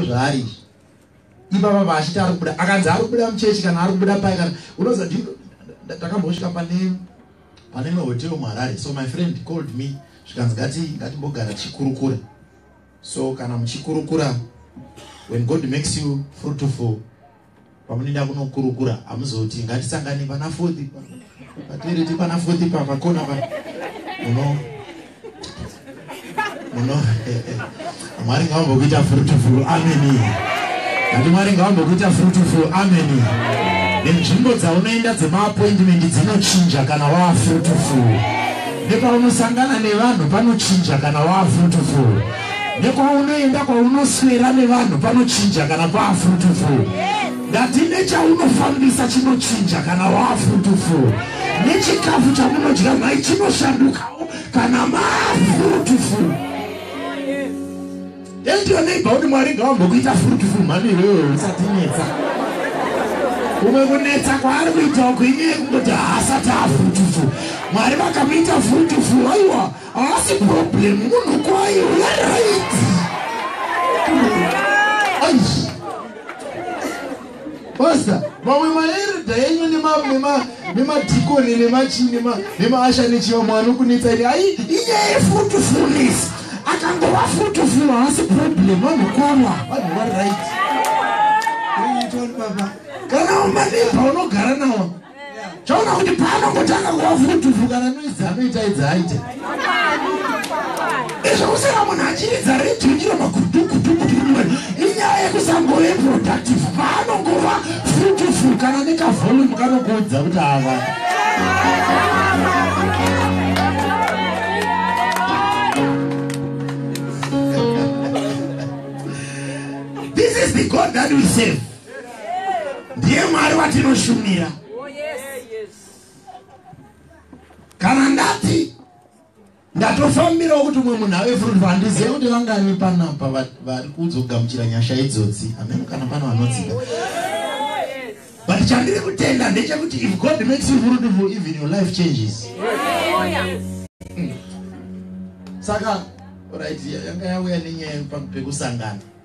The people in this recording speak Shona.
zvaari izvi ipapa paachiti ari kubuda akanzi ari kubuda muchechi kana ari kubuda pai kana unoza ndakambosvika pane pane imwe hotel muharare so my friend called me zvikanzi ngati ngatimbogara tichikurukura so kana muchikurukura when god makes you fruitful Pamunoenda kunokurukura hamuzoti ngatisangane pana fourth patereti pana fourth papakona pa muno muno mwari ngavambokuita fruitful ameni kuti mwari ngavambokuita fruitful ameni nenzvimbo dzaunoenda dzemaappointment dzinochinja kana waa fruitful nepaunosangana nevanhu panochinja kana waa fruitful nekwaunoenda kwaunoswera nevanhu panochinja kana kwaafrutufu ndati nechaunofambisa chinochinja kana waafrutufu nechikafu chamunodya mhai chinoshandukawo kana maafrutufu endiyo neiba kuti mwari ngawambokuita frutufu mhani iwewe usatinetsa kumwe kunetsa kwaari kuitawo kuinyeye kungoti haasati afrutufu mwari vakamuita frutufu aiwa Haasi problem munhu kwaye right. Aish. Pastor, mamwe maerda enyu nemadhikoni nemachini nemaasha nechiva mwana ukunetsa iri ai inyaya yefrutufunis akangova frutuful haasi problem vanhu kwava vanhu vari right kana umanebha unogara nawo chaona kuti paanongotanga kuva vhudhuvhu kana noizi anoita idzi aite izvo kusara munhu achiridza redhiyo nyiro magudugudugudume inyaya yekusangove productive paanongova vhudhuvhu kana nekavolume kanokuudza kuti ava this is the god that we save ndiye mwari watinoshumira oh, kana ndati ndatofambirawo kuti umwe munhu ave fruit vandiziva kuti vangani panapa vari kuzogamuchira nyasha idzodzi ameno kana pano vanodzida but chandiri kutenda ndechekuti if god makes you fruitful even your life changes hmm. saka right yanga yauya nenyaya pano pekusangana